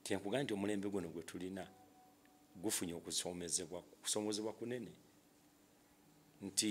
kyenkuga nti omulembe guno gwe tulina gufunye okusoomezebwa kusoomozebwa kunene nti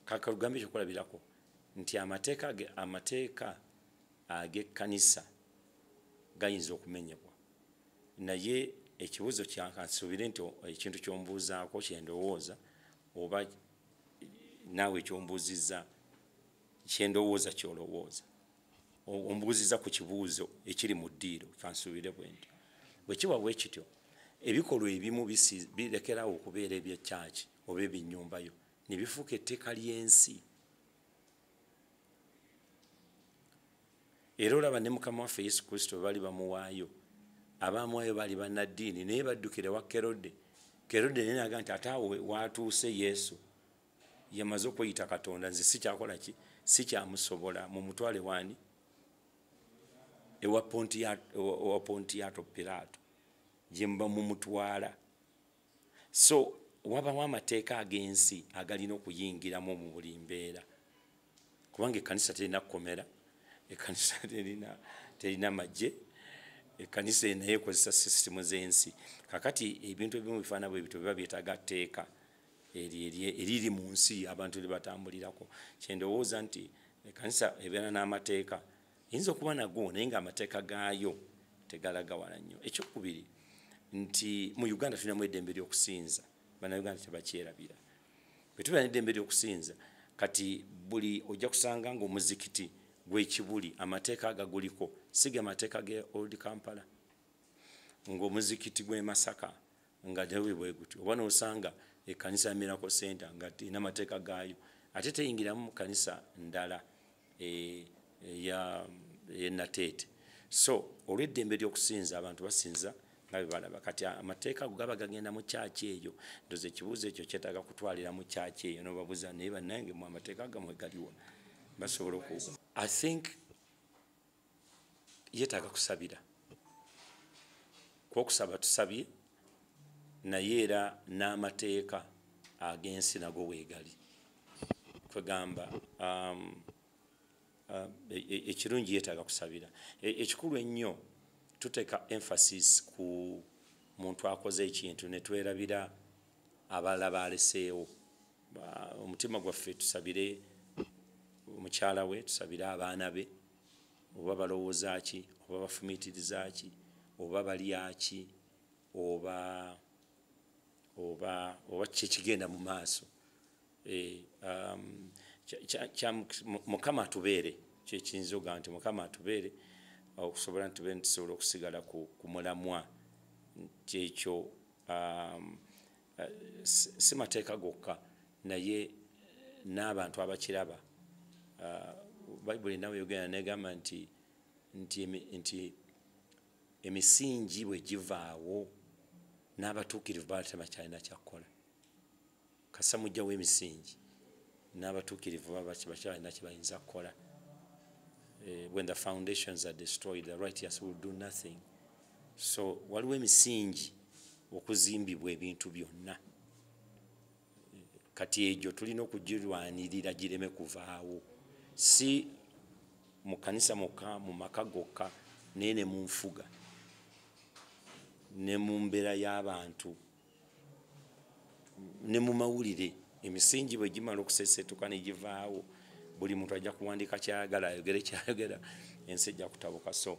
kakalugambe ekyokulabirako nti amateeka ge amateeka ag'ekkanisa gayinza okumenyebwa naye ekibuzo kyakansuubire nti ekintu kyombuuzaako kyendowooza oba naawe ekyombuuzizza kyendowooza kyolowooza ombuuziza ku kibuuzo ekiri mu ddiiro kansuubire bwendi bwe kiba bwe kityo ebikolwa ebimu birekerawo okubeera ebya kyaki oba ebinyumbayo ne bifuuka etteeka ly'ensi era olaba ne mukama waffe yesu kristo bwe bali bamuwaayo abaamuwaayo baali bannaddiini naye baddukire wa kerode kerode naye naga nti ate awo waatuuse yesu yamaze okweyita katonda nze sikyakola ki sikyamusobola mumutwale wani ewa pontiyato pirato gyemuba mumutwala so wabawo amateeka ag'ensi agalina okuyingiramu mu buli mbeera kubanga ekkanisa terina kukomera ekkanisa terina terina magye ekkanisa enaye ekozesa sisitimu z'ensi kakati ebintu ebimu bifaana bwe bityo biba byetaaga tteeka eriri mu nsi abantu lye batambulirako kyendowooza nti ekanisa ebeera n'amateeka eyinza okuba nago naye nga amateeka gaayo tegalaga wala nnyo ekyokubiri nti mu uganda tulinamu eddembe ly'okusinza banauganda tebakyerabira bwe tubeera n'eddembe ly'okusinza kati buli ojja kusanga ngaomuzikiti gwekibuli amateeka agaguliko siga amateeka ge old kampala ngaomuzikiti gw'emasaka nga tewe bwe gutyo oba n'osanga ekkanisa ya miracle center nga erina amateeka gaayo ate teyingiramu mu kkanisa ndala e, e, ya e, nateete so olw'eddembe ly'okusinza abantu basinza nga bwe balaba kati amateeka ago gaba gagenda mu kyaki eyo ndoza ekibuuzo ekyo kyetaaga kutwalira mu kyaki eyo nobabuza naye bannange mu amateeka gamwe galiwa basobola oku i think yetaaga kusabira kwokusaba tusabye naye era n'amateeka ag'ensi nago weegali kwegamba um, uh, e, e, ekirungi yetaaga kusabira e, ekikulu ennyo tuteeka emphasis ku muntu akoze ekintu netwerabira abalala baaleseewo omutima gwaffe tusabire omukyala we tusabire abaana be oba balowooza ki oba bafumiitiriza ki oba balya ki oba oba oba kyekigenda mu maaso eh, um, mukama atubeere kyekiyinza oga nti mukama atubeere okusobola nti tube ntusobola okusigala ku mulamwa nti ekyo um, eh, si mateeka gokka naye eh, n'abantu abakiraba eh, bayibuli nawe yogera negamba nti nti emisingi bwe givaawo n'abatuukirivu baatema kyalina kyakkola kasa mujja w'emisingi n'abatuukirivu bakyalina kye bayinza kukola when the foundations are destroyed the righteous will do nothing so waliwo emisingi okuzimbibwa ebintu byonna kati egyo tulina okugirwanirira gireme kuvaawo si mu kanisa mukka mu maka gokka naye ne mu nfuga ne mu mbeera y'abantu ne mu mawulire emisingi bwe gimala okusesetuka ne givaawo buli muntu ajja kuwandika kyayagala ayogere kyayogera ensi ejja kutabuka so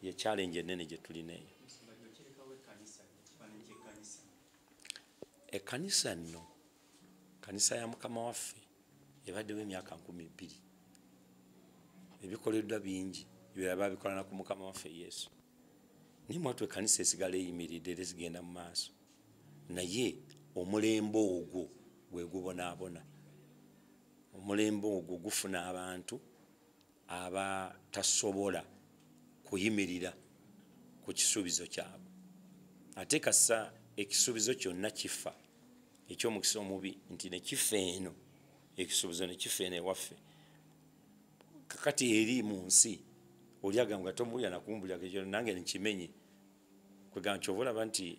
ye challenge enene gye tulina eyo ekkanisa nno kanisa ya mukama waffe ebaddewo emyaka nkumi bbiri ebikoleddwa bingi ebirala babikolana ku mukama waffe yesu naye mwatu ekkanisa esigala eyimiridde era ezigenda mu maaso naye omulembe ogwo gwe gubonaabona omulembe ogwo gufuna abantu aba tasobola kuyimirira ku kisuubizo kyabwe ate kasa ekisuubizo kyonna kifa ekyomukisa omubi nti nekifa eno ekisuubizo nekifa eno ewaffe kakati eri mu nsi olyaga nga tomuwulira nakumbulirako ekyo nange nkimenye kwegamba kyova olaba nti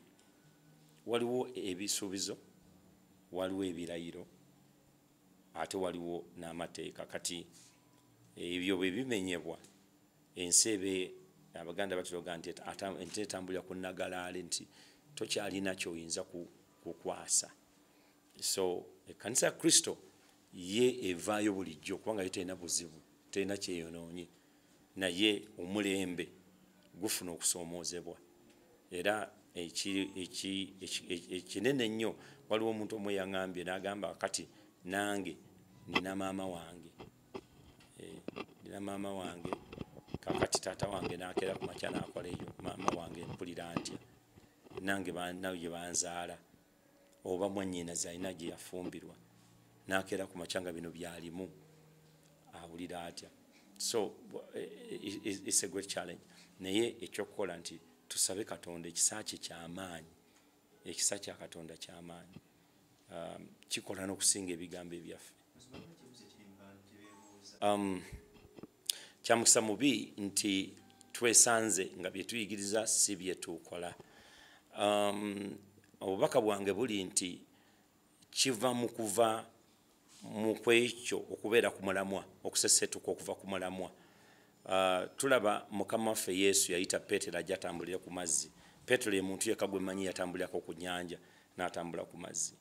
waliwo ebisuubizo waliwo ebirayiro ate waliwo n'amateeka kati ebyo bwe bimenyebwa ensi ebe abaganda batuloga nti ente etambulira ku nagalaale nti tokyalina kyoyinza kukwasa so ekkanisa ya kristo ye evaayo bulijjo kubanga ye terina buzibu terina kyeyonoonye naye omulembe gufuna okusoomoozebwa era ekinene ennyo waliwo omuntu omu eyaŋambye n'agamba kati nange nina maama wange eh, nina maama wange kakati taata wange nakeera ku makya nakola eyo maama wange mpulira ntya nange naye banzaala oba mwanyinaze alina gye yafumbirwa nakeera ku makya nga bino byalimu awulira atya so it's a great challenge naye ekyokukola nti tusabe katonda ekisa kye kyamaanyi ekisa kya katonda kyamaanyi um, kikola n'okusinga ebigambo ebyaffe um, kyamukisa mubi nti twesanze nga byetuyigiriza si byetukola um, obubaka bwange buli nti kiva mu kuva mu kwekyo okubeera ku mulamwa okusesetuka okuva ku mulamwa uh, tulaba mukama waffe yesu yayita peetero ajja atambulire ku mazzi peetero ye muntu yeka gwe manyi yatambulirako ku nyanja n'atambula ku mazzi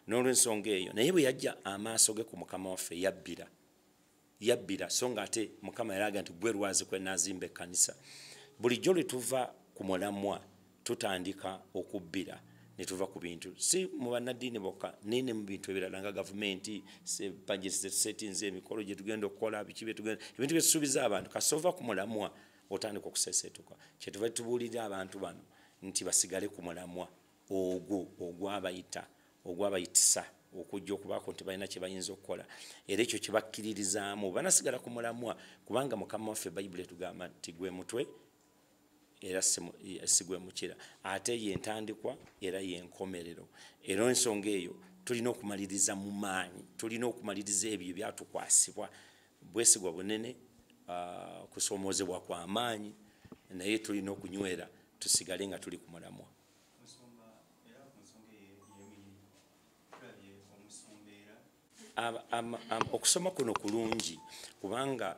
n'olwensonga eyo naye bwe yajja amaaso ge ku mukama waffe yabbira yabbira so nga ate mukama yalaga nti gwe lwazi kwe nazimba ekkanisa bulijjo lwe tuva ku mulamwa tutandika okubbira ne tuva ku bintu si mu bannaddiini bokka naye ne mu bintu ebirala nga gavumenti settings emikolo gye tugenda okukola biki byetugenda ebintu byetusuubiza abantu kasova ku mulamwa otandika okuseseetuka kyetuva tubuulirira abantu bano nti basigale ku mulamwa ogwo ogwabayita ogwabayitisa okujja okubaako nti balina kye bayinza okukola era ekyo kye bakkiririzaamu banasigala ku mulamwa kubanga mukama waffe bayibuli etugamba nti gwe mutwe era sigwe mukira ate yentandikwa era yenkomerero era ensonga eyo tulina okumaliriza mu maanyi tulina okumaliriza ebyo ebyatukwasibwa bwesigwa bunene ah, kusoomoozebwa kwa maanyi naye tulina okunywera tusigale nga tuli ku mulamwa okusoma kuno kulungi kubanga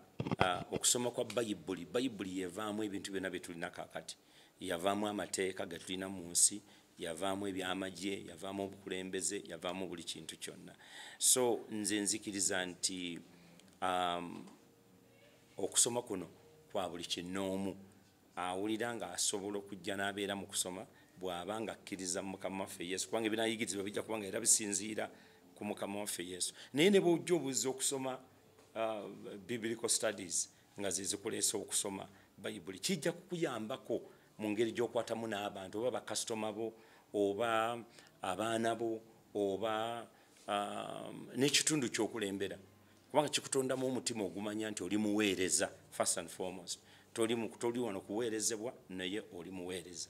okusoma kwa bayibuli bayibuli yevaamu ebintu byonna byetulina kakati yavaamu amateeka getulina mu nsi yavaamu ebyamagye yavaamu obukulembeze yavaamu buli kintu kyonna so nze nzikiriza nti um, okusoma kuno kwa buli kinoomu awulira ng'asobola okujja n'abeera mu kusoma bw'aba ng'akkiriza mu mukama waffe yesu kubanga ebinayigirizibwa bijja kuba nga era bisinziira ku mukama waffe yesu naye ne bwojja obuzza okusoma uh, biblical studies nga zezikuleesa okusoma bayibuli kijja kukuyambako mu ngeri gy'okwatamu n'abantu oba bakasitoma bo oba abaana bo oba um, n'ekitundu ky'okulembera kubanga kikutondamu omutima ogumanya nti oli muweereza first and foremost toli mukutoli wano kuweerezebwa naye oli muweereza